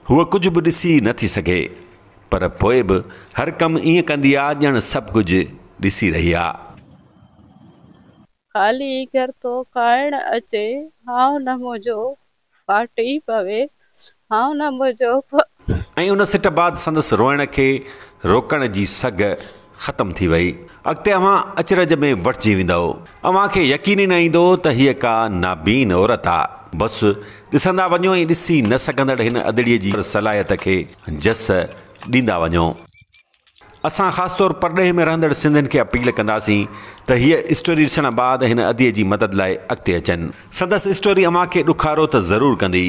هوء ڪجهه به ڏسي نه ٿي سگهي، پر پوء به هر ڪم ائين ڪندي آ ڄڻ سڀ ڪجهه ڏسي رهي آ. خالي گهر ٿو کائڻ اچي، هائو نه منهنجو ڦاٽي پوي، هائو نه منهنجو ۽ ان سٽ بعد سندس روئڻ کي روڪڻ جي سگهه ختم ٿي وئي. اڳتي اوهان اچرج ۾ وٺجي ويندؤ. اوهان کي يقين ئي نه ايندو ته هيء ڪا نابين عورت آ. بس، ڏسندا وڃو ۽ ڏسي نه سگهندڙ هن ادڙيء جي صلاحيت کي جس ڏيندا وڃو. اسان خاص طور پرڏيهه ۾ رهندڙ سنڌين کي اپيل ڪنداسين ته هيء اسٽوري ڏسڻ بعد هن ادي جي مدد لاء اڳتي اچن. سندس اسٽوري اوهان کي ڏکارو ته ضرور ڪندي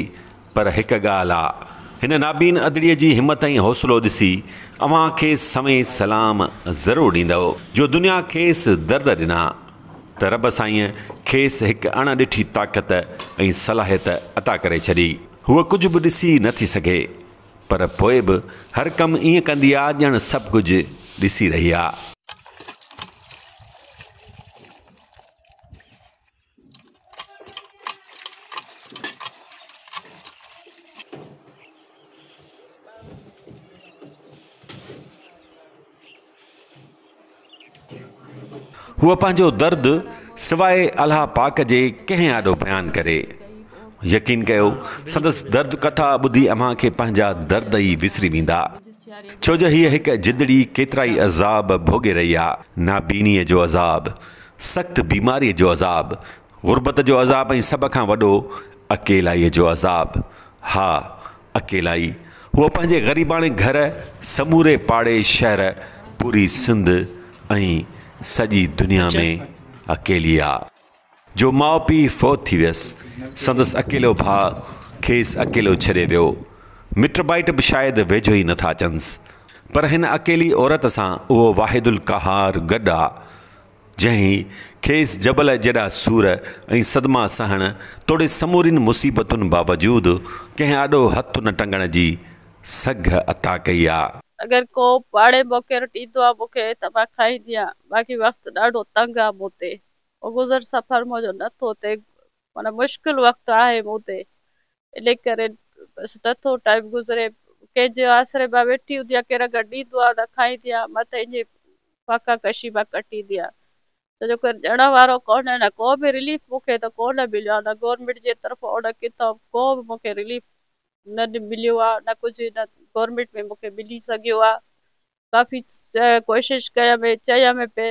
پر هڪ ڳالهه آ هن نابين ادڙي جي همت ۽ حوصلو ڏسي اوهان کيس سوين سلام ضرور ڏيندؤ جو دنيا کيس درد ڏنا ته رب سائين کيس هڪ اڻ ڏٺي طاقت ۽ صلاحيت عطا ڪري ڇڏي هوء ڪجهه به ڏسي نٿي سگهي پر پوء به هر ڪم ائين ڪندي آ ڄڻ سڀ ڪجهه ڏسي رهي آ. هوء پنهنجو درد سواء الله پاڪ جي ڪنهن آڏو بيان ڪري. يقين ڪيو سندس درد ڪٿا ٻڌي اوهان کي پنهنجا درد ئي وسري ويندا. ڇو جو هيء هڪ جندڙي ڪيترائي عذاب ڀوڳي رهي آ، نابينيء جو عذاب، سخت بيماريء جو عذاب، غربت جو عذاب ۽ سڀ کان وڏو اڪيلائيء جو عذاب. ها، اڪيلائي. هوء پنهنجي غريباڻي گهر، سموري پاڙي شهر، پوري سنڌ ۽ سڄي دنيا ۾ اڪيلي آ. جو ماء پيء فوت ٿي ويس، سندس اڪيلو ڀاء کيس اڪيلو ڇڏي ويو. مٽ مائٽ به شايد ويجهو ئي نٿا اچنس. پر هن اڪيلي عورت سان اهو واحد القهار گڏ آ. جنهن کيس جبل جيڏا سور ۽ صدما سهڻ توڙي سمورين مصيبتن باوجود ڪنهن آڏو هٿ نه ٽنگڻ جي سگهه عطا ڪئي آ. اگر ڪو پاڙي موقعي رٽ ايندو آ مون کي ته مان کائيندي آ باقي وقت ڏاڍو تنگ آ مون تي. گذر سفر منهنجو نه ٿو ٿئي معنيٰ مشڪل وقت آهي مون تي. انهيء ڪري بس نٿو ٽائيم گذري. ڪنهن جي آسري مان ويٺي هوندي آهيان، ڪير اگر ڏيندو آهي ته کائيندي آهيان، نه ته انهيء فاقا ڪشيء مان ڪٽيندي آهيان. ڇو جو ڪير ڏيڻ وارو ڪونهي، نه ڪو به رليف مون کي ته ڪونه مليو آهي، نه گورنمينٽ جي طرفان ان ڪٿان ڪو به مون کي رليف نه مليو آهي، نه ڪجهه هن گورنمينٽ ۾ مون کي ملي سگهيو آهي. ڪافي ڪوشش ڪيم ۽ چيم به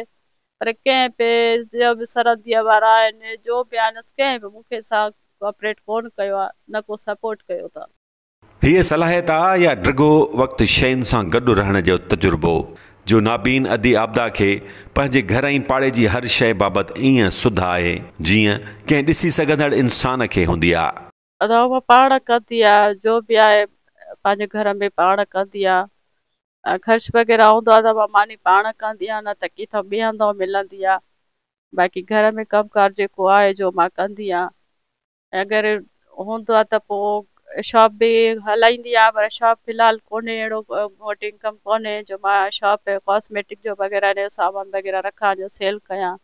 پر ڪنهن به جيئن به سرحديء وارا آهن جو به آهن اس ڪنهن به مون کي سان ڪوآپريٽ ڪونه ڪيو آهي نه ڪو سپورٽ ڪيو اٿن. هيء صلاحيت آ يا ڊگهو وقت شين سان گڏ رهڻ جو تجربو جو نابين ادي عابده کي پنهنجي گهر ۽ پاڙي جي هر شيء بابت ائين سڌ آهي جيئن ڪنهن ڏسي سگهندڙ انسان کي هوندي آ. روء پاڻ ڪندي آ جو به آ پنهنجي گهر ۾ پاڻ ڪندي آ ۽ خرچ وغيره هوندو آ ته ماني پاڻ ڪندي آ نه ته ڪٿو ٻي هنڌو ملندي آ باقي گهر ۾ ڪم ڪار جيڪو آ جو مان ڪندي آ اگر هوندو آ ته پو شاپ به هلائيندي آ پر شاپ في الحال ڪونهي اهڙو مون وٽ انڪم ڪونهي جو مان شاپ ڪاسميٽڪ جو وغيره جو سامان وغيره رکان جو سيل ڪيان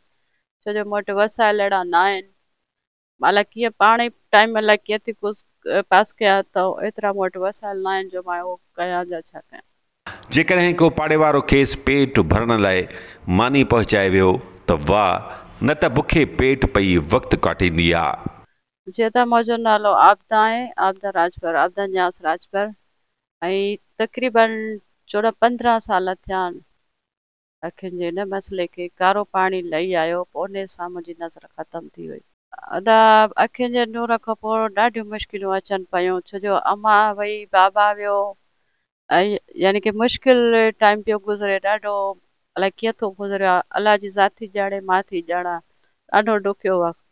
ڇو جو مون وٽ وسائل اهڙا ناهن الاء ڪيئن پاڻ ئي ٽائيم الاء ڪيئن ٿي پاس ڪيا ته ايترا مون وٽ وسائل ناهن جو مان اهو ڪيان يا ڇا ڪيان. جيڪڏهن ڪو پاڙيوارو کيس پيٽ ڀرڻ لاء ماني پهچائي ويو ته واهه نه ته بکي پيٽ پئي وقت ڪاٽينديا. جيئن ته منهنجو نالو عابده آهي، عابده راڄپر، عابده نياز راڄپر، ۽ تقريبن چوڏهن پندرهن سال ٿيا آهن اکين جي ان مسئلي کي ڪارو پاڻي لهي آيو پوني سان منهنجي نظر ختم ٿي وئي. ادا اکين جي نور کان پوء ڏاڍيون مشڪليون اچن پيون ڇو جو اما وئي بابا ويو يعني ڪي مشڪل ٽائيم پيو گذري ڏاڍو الاء ڪيئن ٿو گذريو آ الله جي ذات ٿي ڄاڻي مان ٿي ڄاڻان ڏاڍو ڏکيو وقت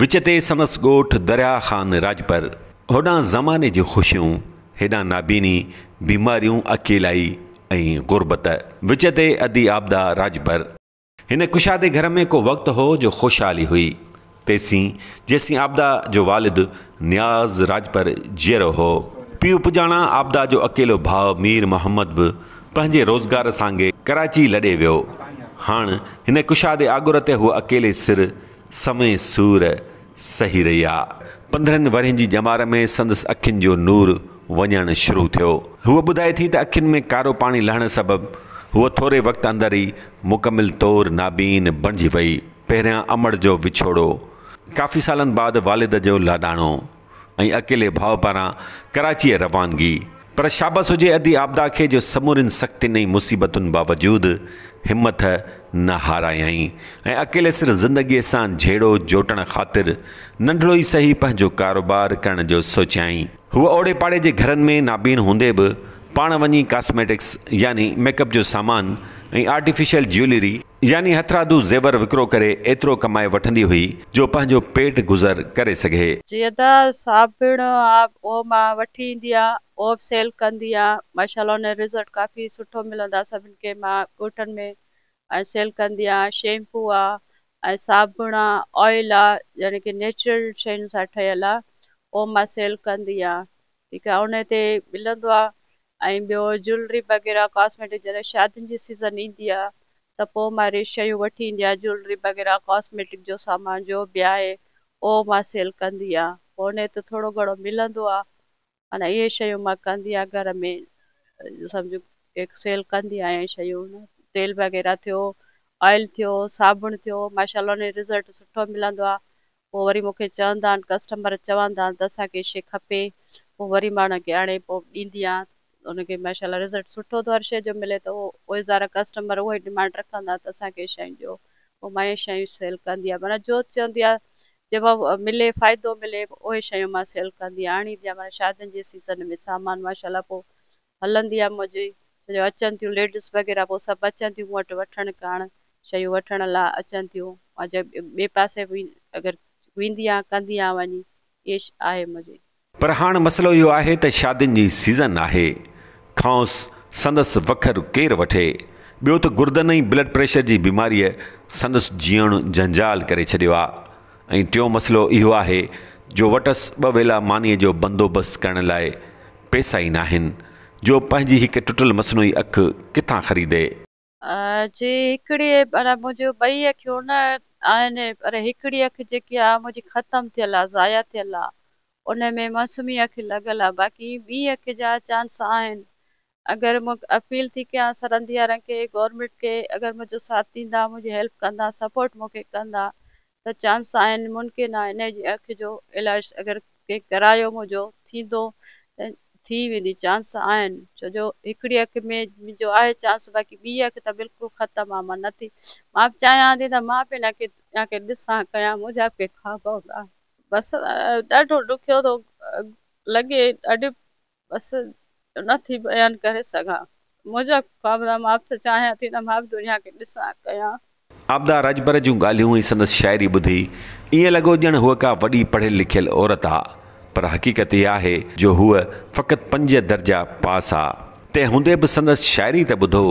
وچ تي سندس ڳوٺ دريا خان راڄپر. هوڏانهن زماني جون خوشيون، هيڏانهن نابيني، بيماريون، اڪيلائي ۽ غربت. وچ تي ادي آبدا راڄپر. هن ڪشادي گهر ۾ ڪو وقت هو جو خوشحالي هئي، تيسين جيسين آبدا جو والد نياز راڄپر جيئرو هو. پيء پڄاڻان آبدا جو اڪيلو ڀاء مير محمد به پنهنجي روزگار سانگي ڪراچي لڏي ويو. هاڻ هن ڪشادي آڳر تي هوء اڪيلي سر سوين سور سهي رهيا. پندرهن ورهين جي ڄمار ۾ سندس اکين جو نور وڃڻ شروع ٿيو. هوء ٻڌائي ٿي ته اکين ۾ ڪارو پاڻي لهڻ سبب هوء ٿوري وقت اندر ئي مڪمل طور نابين بڻجي وئي. پهريان امڙ جو وڇوڙو. ڪافي سالن بعد والد جو لاڏاڻو. ۽ اڪيلي ڀاء پاران ڪراچيء روانگي، پر شابس هجي ادي عابده کي جو سمورين سختين ۽ مصيبتن باوجود همٿ نه هارايائين ۽ اڪيلي سر زندگيء سان جهيڙو جوٽڻ خاطر ننڍڙو ئي سهي پنهنجو ڪاروبار ڪرڻ جو سوچيائين. هوء اوڙي پاڙي جي گهرن ۾ نابين هوندي به پاڻ وڃي ڪاسميٽڪس يعني ميڪ اپ جو سامان ۽ آرٽيفيشل جيولري يعني هٿرادو زيور وڪرو ڪري ايترو ڪمائي وٺندي هئي جو پنهنجو پيٽ گذر ڪري سگهي. زياده صابڻ او مان وٺي ايندي آ او به سيل ڪندي آ ماشاءالله ان جو رزلٽ ڪافي سٺو ملندو آ سڀن کي مان ڳوٺن ۾ ۽ سيل ڪندي آ شيمپو آ ۽ صابڻ آ آئل آ يعني ڪي نيچرل شين سان ٺهيل آ او مان سيل ڪندي آ ٺيڪ آ ان تي ملندو آ ۽ ٻيو جولري وغيره ڪاسميٽڪ جڏهن شادين جي سيزن ايندي آ ته پوء مان اهڙي شيون وٺي ايندي آهيان جولري وغيره ڪاسميٽڪ جو سامان جو به آهي اهو مان سيل ڪندي آهيان پوء ان تي ٿورو گهڻو ملندو آ معنيٰ اهي شيون مان ڪندي آهيان گهر ۾ سمجهه ڪيڪ سيل ڪندي آهيان اهي شيون تيل وغيره ٿيو آئل ٿيو صابڻ ٿيو ماشاء الله ان جو رزلٽ سٺو ملندو آ پوء وري مون کي چوندا آهن ڪسٽمر چوندا آهن ته اسان کي شي کپي پوء وري ماڻهن کي آڻي پوء ڏيندي آهيان ان کي ماشاء الله رزلٽ سٺو ٿو هر شي جو ملي ته اهي سارا ڪسٽمر اهو ئي ڊمانڊ رکندا آهن ته اسان کي شيون ڏيو پوء مان اهي شيون سيل ڪندي آهيان معنيٰ جو چوندي آهي جنهن مان ملي فائدو ملي اهي شيون مان سيل ڪندي آڻيندي آهيان معنيٰ شادين جي سيزن ۾ سامان ماشاء الله پوء هلندي هئم منهنجي ڇو جو اچن ٿيون ليڊس وغيره پوء سڀ اچن ٿيون مون وٽ وٺڻ ڪرڻ شيون وٺڻ لا اچن ٿيون مان جي ٻئي پاسي به اگر ويندي آهيان ڪندي آهيان وڃي اهي آهي منهنجي. پر هاڻ مسئلو اهو آهي ته شادين جي سيزن آهي کانئس سندس وکر ڪير وٺي ٻيو ته گردن ۽ بلڊ پريشر جي بيماريء سندس جيئڻ جنجال ڪري ڇڏيو آ ۽ ٽيون مسئلو اهو آهي جو وٽس ٻه ويلا مانيء جو بندوبست ڪرڻ لاء پئسا ئي ناهن، جو پنهنجي هڪ ٽٽل مصنوعي اک ڪٿان خريدي؟ جي هڪڙي معنيٰ منهنجيون ٻئي اکيون نه آهن، پر هڪڙي اک جيڪي آ منهنجي ختم ٿيل آ، ضايع ٿيل آ، ان ۾ مصنوعي اک لڳل آ، باقي ٻي اک جا چانس آهن، اگر مون اپيل ٿي ڪيان سرنديارن کي گورنمينٽ کي اگر منهنجو ساٿ ڏيندا منهنجي هيلپ ڪندا سپورٽ مون کي ڪندا ته چانس آهن ممڪن آهي انهي جي اک جو علاج اگر ڪنهن ڪرايو منهنجو ٿيندو ته ٿي ويندي چانس آهن ڇو جو هڪڙي اک ۾ منهنجو آهي چانس باقي ٻي اک ته بلڪل ختم آهي مان نٿي مان به چاهيان ٿي ته مان به انهن کي يا ڪي ڏسان ڪيان منهنجا به ڪي خواب هوندا بس ڏاڍو ڏکيو ٿو لڳي ڏاڍي بس نه ٿي بيان ڪري سگهان. منهنجا خواب ته مان به چاهيان ٿي ته مان به دنيا کي ڏسان ڪيان. عابده رجبر جون ڳالهيون ۽ سندس شاعري ٻڌي ائين لڳو ڄڻ هوء ڪا وڏي پڙهيل لکيل عورت آ پر حقيقت اها آهي جو هوء فقط پنج درجا پاس آ تنهن هوندي به سندس شاعري ته ٻڌو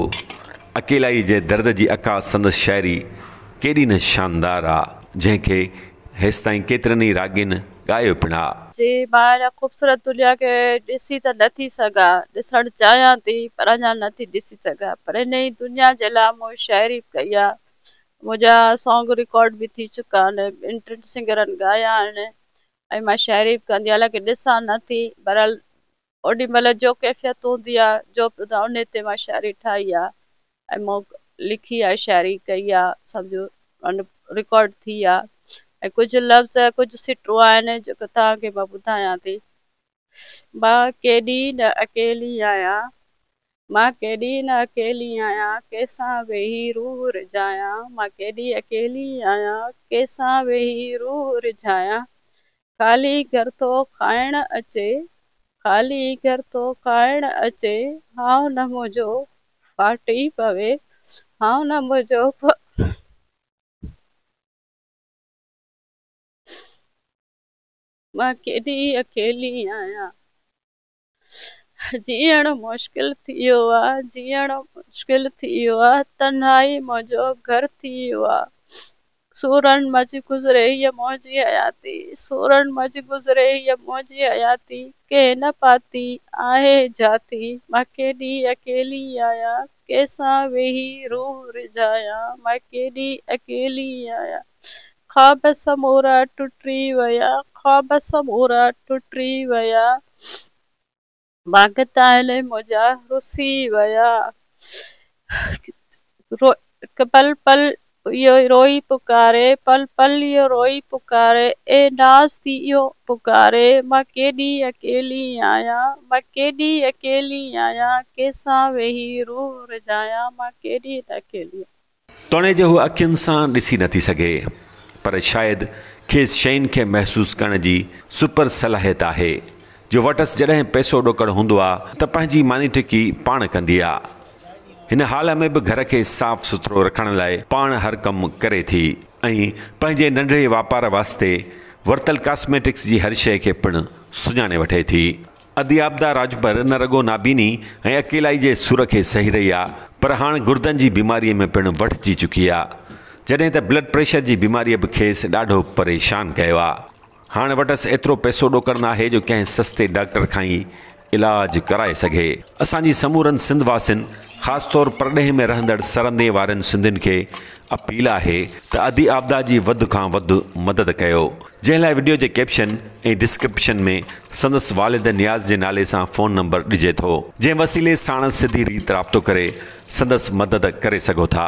اڪيلائي جي درد جي عڪاس سندس شاعري ڪيڏي نه شاندار آ جنهن کي هيستائين ڪيترن ئي راڳين ڳايو پڻ ها. جي مان هن خوبصورت دنيا کي ڏسي ته نه ٿي سگهان، ڏسڻ چاهيان ٿي پر اڃا نه ٿي ڏسي سگهان پر هن ئي دنيا جي لاء مون شاعري به ڪئي آهي، منهنجا سانگ رڪارڊ به ٿي چڪا آهن، ٻين ٽن سنگرن ڳايا آهن ۽ مان شاعري به ڪندي حالانڪه ڏسان نه ٿي، بهرحال اوڏي مھل جو ڪيفيت ھوندي آ جو انھي تي مان شاعري ٺاھي آ ۽ مون لکي آ شاعري ڪئي آ سمجھو ان رڪارڊ ٿي آ ۽ ڪجھ لفظ ڪجھ سٽون آھن جيڪو توھان کي مان ٻڌايان ٿي مان ڪيڏي نه اڪيلي آھيان مان ڪيڏي نه اڪيلي آھيان ڪيسان ويھي روح رجھايان مان ڪيڏي اڪيلي آھيان ڪيسان ويھي روح رجھايان خالي گهر ٿو کائڻ اچي، خالي گهر ٿو کائڻ اچي، هانء نه منهنجو ڦاٽي پوي، هانء نه منهنجو مان ڪيڏي اڪيلي آهيان. جيئڻ مشڪل ٿي ويو آ جيئڻ مشڪل ٿي ويو آ تنهائي منهنجو گهر ٿي ويو آ سورن منجهه گذري هيء منهنجي حياتي سورن منجهه گذري هيء منهنجي حياتي ڪنهن نه پاتي آهي جاتي مان ڪيڏي اڪيلي آهيان ڪنهن سان ويهي روح ريجهايان، مان ڪيڏي اڪيلي آهيان. خواب سمورا ٽٽي ويا، خواب سمورا ٽٽي ويا، ڀاڳتائل منهنجا رسي ويا. پل پل. اهو ئي روئي پڪاري، پل پل اهو روئي پڪاري، اي ناز ٿي اهو پڪاري، مان ڪيڏي اڪيلي آهيان، مان ڪيڏي اڪيلي آهيان، ڪيسان ويهي روح رجايان، مان ڪيڏي ته اڪيلي آهيان. توڻيجي هوء اکين سان ڏسي نٿي سگهي، پر شايد کيس شين کي محسوس ڪرڻ جي سپر صلاحيت آهي، جو وٽس جڏهن پئسو ڏوڪڙ هوندو آ ته پنهنجي مانيٽڪي پاڻ ڪندي آ، هن حال ۾ به گهر کي صاف سٿرو رکڻ لاء پاڻ هر ڪم ڪري ٿي ۽ پنهنجي ننڍڙي واپار واسطي ورتل ڪاسميٽڪس جي هر شيء کي پڻ سڃاڻي وٺي ٿي. اديابدا راجڀر نه رڳو نابيني ۽ اڪيلائي جي سور کي سهي رهي آ پر هاڻ گردن جي بيماريء ۾ پڻ وٺجي چڪي آ جڏهن ته بلڊ پريشر جي بيماريء به کيس ڏاڍو پريشان ڪيو آ. هاڻ وٽس ايترو پئسو ڏوڪڙ ناهي جو ڪنهن سستي ڊاڪٽر کان ئي علاج ڪرائي سگهي. اسان جي سمورن سنڌ واسين خاص طور پرڏيهه ۾ رهندڙ سرندي وارين سنڌين کي اپيل آهي ته ادي آبدا جي وڌ کان وڌ مدد ڪيو جنهن لاء وڊيو جي ڪيپشن ۽ ڊسڪرپشن ۾ سندس والد نياز جي نالي سان فون نمبر ڏجي ٿو جنهن وسيلي ساڻس سڌي ريت رابطو ڪري سندس مدد ڪري سگهو ٿا